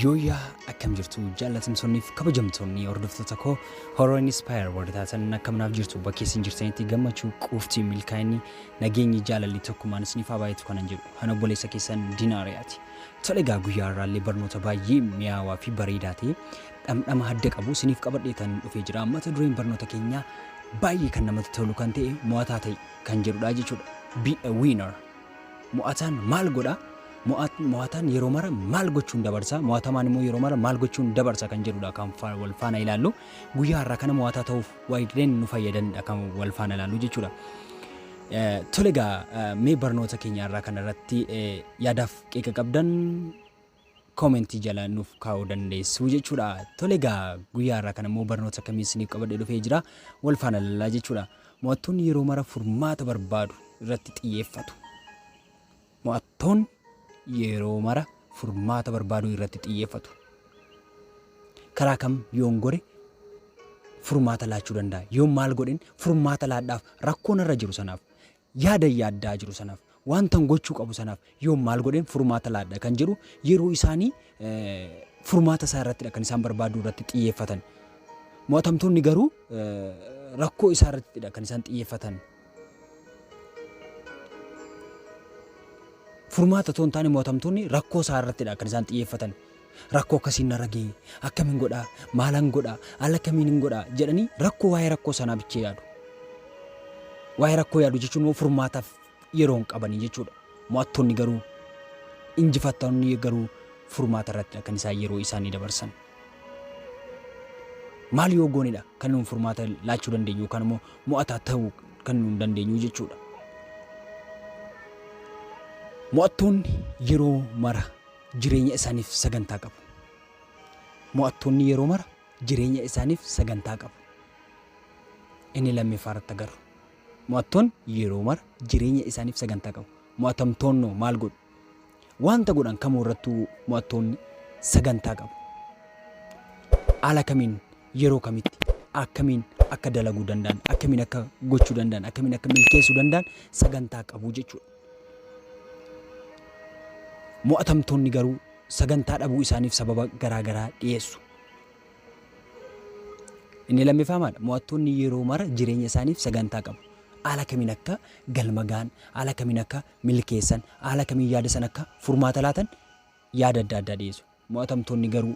Yooyyaa akkam jirtu jaallatamtoonniif kabajamtoonni hordoftoota koo horror inspire warri taatan akkam naaf jirtu bakkee isin jirtanitti gammachuu quuftii milkaa'inni nageenyi jaalalli tokkummaan isiniif haa baay'atu kanan jedhu kan obboleessa keessan dinaariyaati. Tole egaa guyyaa har'aallee barnoota baay'ee mi'aawaa fi bareedaa ta'e dhamdhama adda qabu isiniif qabadhee tan dhufee jira mata dureen barnoota keenyaa baay'ee kan namatti tolu kan ta'e mo'ataa ta'e kan jedhudha jechuudha. Be a winner. Mo'ataan maal godha? Mo'ataan yeroo mara maal gochuun dabarsa? Mo'atamaan immoo yeroo mara maal gochuun dabarsa kan jedhudha kan wal faana ilaallu. Guyyaa har'aa kana mo'ataa ta'uuf waa'een nu fayyadanidha kan wal faana ilaallu jechuudha. Tole egaa mee barnoota keenya irraa kanarratti yaadaaf qeeqa qabdan comment jala nuuf kaa'uu dandeessu jechuudha. Tole egaa guyyaa irraa kan immoo barnoota akkamii isiniif qabadhee dhufee jira wal faana lallaa jechuudha. Mo'attoonni yeroo mara furmaata barbaadu irratti xiyyeeffatu. Mo'attoon yeroo mara furmaata barbaaduu irratti xiyyeeffatu. Karaa kam yoon gore furmaata laachuu danda'a. Yoon maal godhin furmaata laadhaaf rakkoon irra jiru sanaaf Yaadan yaaddaa jiru sanaaf, waantan gochuu qabu sanaaf yoom maal godheen furmaata laadha kan jedhu yeroo isaanii furmaata isaa irrattidha kan isaan barbaaduu irratti xiyyeeffatan. Mo'atamtoonni garuu rakkoo isaa irrattidha kan isaan xiyyeeffatan. Furmaata otoo hin taane mo'atamtoonni rakkoo isaa irrattidha kan isaan xiyyeeffatan. Rakkoo akkasiin narra ga'e, akkamin godha, maalan godha, haala kamiinin godha jedhanii rakkoo waa'ee rakkoo sanaa bichee yaadu. Waa'ee rakkoo yaadu jechuun immoo furmaataaf yeroo hin qabanii jechuudha. Mo'attoonni garuu injifattoonni garuu furmaata irratti kan isaan yeroo isaanii dabarsan. Maal yoo goonedha kan nuun furmaata laachuu dandeenyu yookaan immoo mo'ataa ta'uu kan nuun dandeenyu jechuudha. Mo'attoonni yeroo mara jireenya isaaniif sagantaa qabu. Mo'attoonni yeroo mara jireenya isaaniif sagantaa qabu. Inni lammeeffaa irratti agarru. Mo'attoonni yeroo mara jireenya isaaniif sagantaa qabu. Mo'atamtoonnoo maal godhu? Wanta godhan kamuu irrattuu mo'attoonni sagantaa qabu. Haala kamiin yeroo kamitti akkamiin akka dalaguu danda'an, akkamiin akka gochuu danda'an, akkamiin akka milkeessuu danda'an sagantaa qabu jechuudha. Mo'atamtoonni garuu sagantaa dhabuu isaaniif sababa garaa garaa dhiyeessu. Inni lammiffaa maal? Mo'attoonni yeroo mara jireenya isaaniif sagantaa qabu. Haala kamiin akka galma ga'an, haala kamiin akka milkeessan, haala kamiin yaada san akka furmaata laatan yaada adda addaa dhiyeessu. Mo'atamtoonni garuu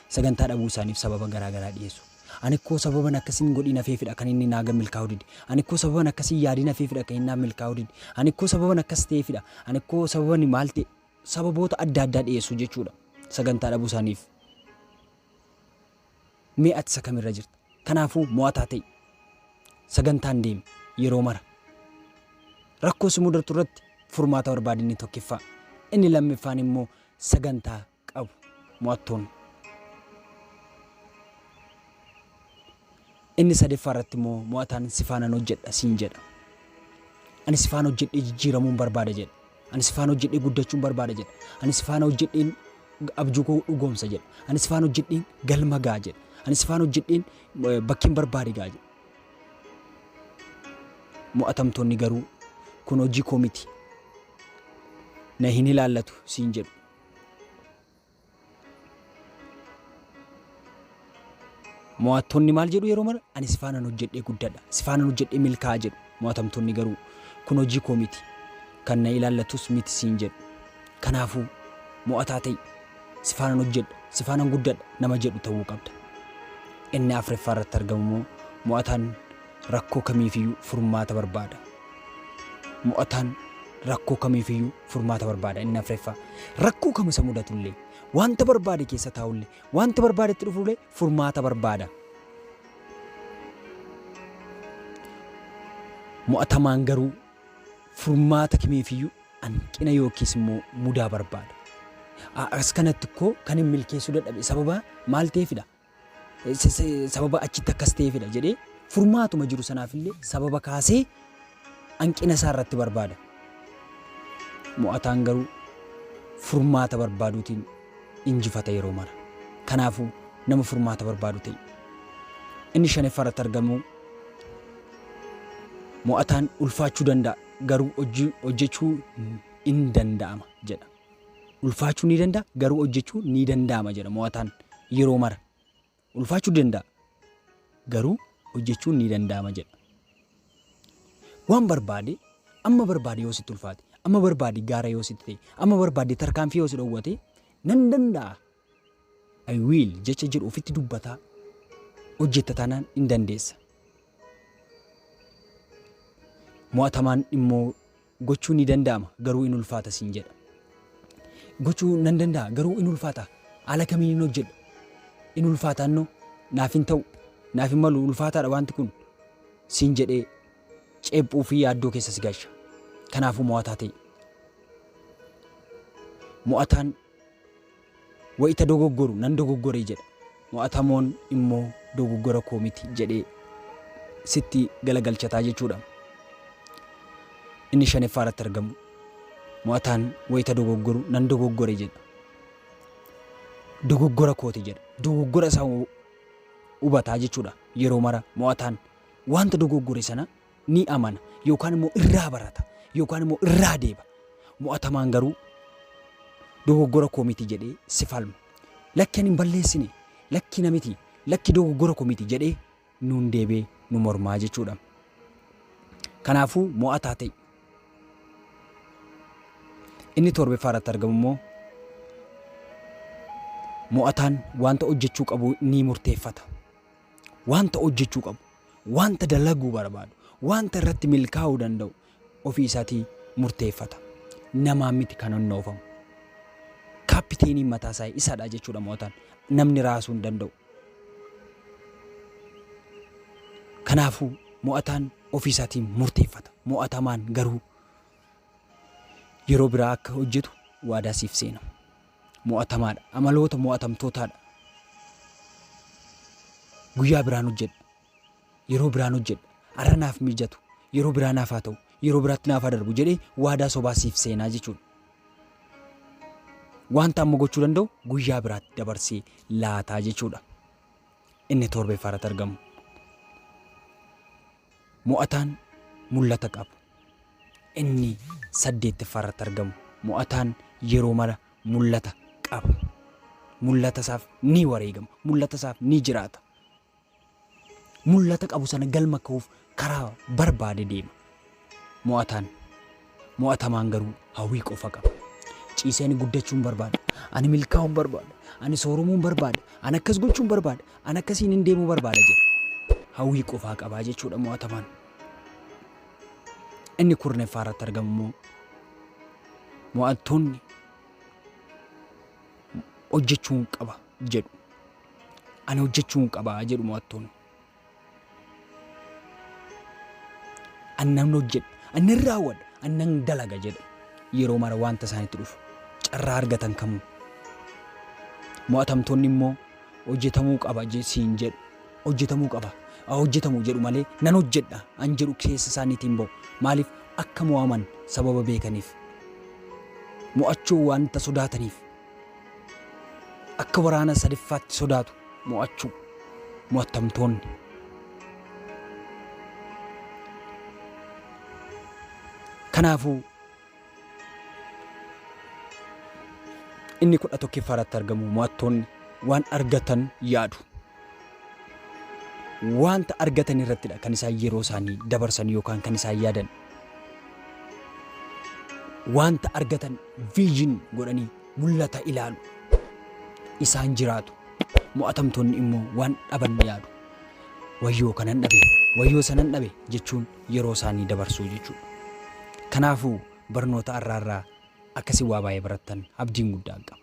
sagantaa dhabuu isaaniif sababa garaa garaa dhiyeessu. Ani koo sababan akkas hin godhiin hafeefidha kan inni naa milkaa'uu dide. Ani koo sababan akkas hin yaadiin hafeefidha kan inni naaf milkaa'uu dide. Ani koo sababan akkas ta'eefidha. Ani koo sababani maal ta'e sababoota adda addaa dhiyeessu jechuudha sagantaa dhabuu isaaniif. Mee ati isa kamirra jirta? Kanaafuu mo'ataa ta'i. Sagantaan deemi yeroo mara. Rakkoo si mudatu irratti furmaata barbaadi inni tokkiffaa. Inni lammiffaan immoo sagantaa qabu mo'attoonni. Inni sadeeffaa irratti immoo mo'ataan si faanan hojjedha siin jedha. Ani si faana hojjedhee jijjiiramuun barbaada jedha. Ani si faana hojjedhee guddachuun barbaada jedha. Ani si faana hojjedheen abjuu koo dhugoomsa jedha. Ani si faana hojjedheen galma ga'a jedha. Ani si faana hojjedheen eh, bakkeen barbaade ga'a jedha. Mo'atamtoonni garuu kun hojii koo miti. Na hin ilaallatu siin jedhu. Mo'attoonni maal jedhu yeroo mara? Ani si faanan hojjedhee guddadha, si faanan hojjedhee milkaa'a jedhu. Mo'atamtoonni garuu, kun hojii koo miti, kan na ilaallatus miti siin jedhu. Kanaafuu, mo'ataa ta'i. Si faanan hojjedha, si faanan guddadha nama jedhu ta'uu qabda. Ennaa afraffaa irratti argamu immoo, mo'ataan rakkoo kamiifiyyuu furmaata barbaada. Mo'ataan rakkoo kamiifiyyuu furmaata barbaada, inni afreeffaa. Rakkoo kam isa mudatullee, wanta barbaade keessa taa'ullee, wanta barbaade itti dhufullee furmaata barbaada. Mo'atamaan garuu furmaata kamiifiyyuu hanqina yookiis immoo mudaa barbaada. As kanatti koo kan hin milkeessuu dadhabe sababa maal ta'eefidha? sababa achitti akkas ta'eefidha jedhee furmaatuma jiru sanaaf illee sababa kaasee hanqina isaa irratti barbaada. Mo'ataan garuu furmaata barbaaduutiin injifata yeroo mara. Kanaafuu nama furmaata barbaadu ta'e. Inni shanaffaa irratti argamu mo'ataan ulfaachuu danda'a garuu hojjechuu hin danda'ama jedha. Ulfaachuu ni danda'a, garuu hojjechuu ni danda'ama jedha mo'ataan yeroo mara. Ulfaachuu danda'a, garuu hojjechuun ni danda'ama jedha. Waan barbaade, amma barbaade yoo sitti ulfaate, amma barbaade gaara yoo sitti ta'e, amma barbaade tarkaanfii yoo si dhowwate, nan danda'a I will jecha jedhu ofitti dubbataa hojjetta taanaan in dandeessa. Mo'atamaan immoo gochuun ni danda'ama garuu in ulfaata siin jedha. Gochuu nan danda'a garuu in ulfaata haala kamiin hin hojjedha. In ulfaataannoo naaf hin ta'u naaf hin malu ulfaataadha wanti kun siin jedhee ceephuu fi yaaddoo keessa si galcha. Kanaafuu mo'ataa ta'e. Mo'ataan Wayita dogoggoru nan dogoggore jedha. Mo'atamoon immoo dogoggora koo miti jedhee sitti galagalchataa jechuudha. Inni shaneffaa irratti argamu mo'ataan wayita dogoggoru nan dogoggore jedha. Dogoggora kooti jedha. Dogoggora isaa hubataa jechuudha yeroo mara mo'ataan wanta dogoggore sana ni amana yookaan immoo irraa barata yookaan immoo irraa deeba. Mo'atamaan garuu dogoggora koo miti jedhee si falma. Lakki ani hin balleessine, lakki na miti, lakki dogoggora koo miti jedhee nuun deebee nu mormaa jechuudha. Kanaafuu mo'ataa ta'i. Inni torbaffaa irratti argamu immoo mo'ataan wanta hojjechuu qabu ni murteeffata. wanta hojjechuu qabu, wanta dalaguu barbaadu, wanta irratti milkaa'uu danda'u ofii isaatii murteeffata. Namaan miti kan honnoofamu. Kaapiteeniin mataa isaa isadha jechuudha mo'ataan. Namni raasuu hin danda'u. Kanaafuu mo'ataan ofii isaatiin murteeffata. Mo'atamaan garuu yeroo biraa akka hojjetu waadaa siif seena. mo'atamaadha. Amaloota mo'atamtootaadha. Guyyaa biraan hojjedha. Yeroo biraan hojjedha. Arra naaf mijatu. Yeroo biraa naaf haa ta'u. Yeroo biraatti naaf haa darbu jedhee waadaa sobaa siif seenaa jechuudha. Wanta amma gochuu danda'u guyyaa biraatti dabarsee laataa jechuudha. Inni torbee faarratti argamu. Mo'ataan mul'ata qabu inni saddeettaffaarratti argamu mo'ataan yeroo mara mul'ata qaba. Mul'atasaaf ni wareegama. Mul'atasaaf ni jiraata. Mul'ata qabu sana galma kahuuf karaa barbaade deema. Mo'ataan Mo'atamaan garuu hawwii qofa qaba. Ciisee ani guddachuun barbaada. Ani milkaa'uun barbaada. Ani sooromuun barbaada. Ani akkas gochuun barbaada. Ani akkasiin hin deemuu barbaada jedha. Hawwii qofaa qabaa jechuudha mo'atamaan. Inni kurneffaa irratti argamu immoo mo'attoonni hojjechuun qaba jedhu. Ani hojjechuun qaba jedhu mo'attoonni. An nan hojjedha, an nan raawwadha, an nan dalaga jedhe yeroo mara wanta isaanitti dhufu carraa argatan kamuu. Mo'atamtoonni immoo hojjetamuu qaba je- siin jedhu hojjetamuu qaba haa hojjetamu jedhu malee nan hojjedha an jedhu keessa isaaniitiin ba'u maaliif akka mo'aman sababa beekaniif mo'achuu wanta sodaataniif Akka waraana sadiffaatti sodaatu mo'achuu mo'attamtoonni. Kanaafuu inni kudha tokkiffaarratti argamu mo'attoonni waan argatan yaadu. Wanta argatan irrattidha kan isaan yeroo isaanii dabarsan yookaan kan isaan yaadan. Wanta argatan vision godhanii mul'ata ilaalu. Isaan jiraatu. Mo'atamtoonni immoo waan dhaban yaadu. Wayyoo kanan dhabe, wayyoo sanan dhabe jechuun yeroo isaanii dabarsuu jechuudha. Kanaafuu barnoota har'aarraa akkasii waa baay'ee barattan abdiin guddaan qaba.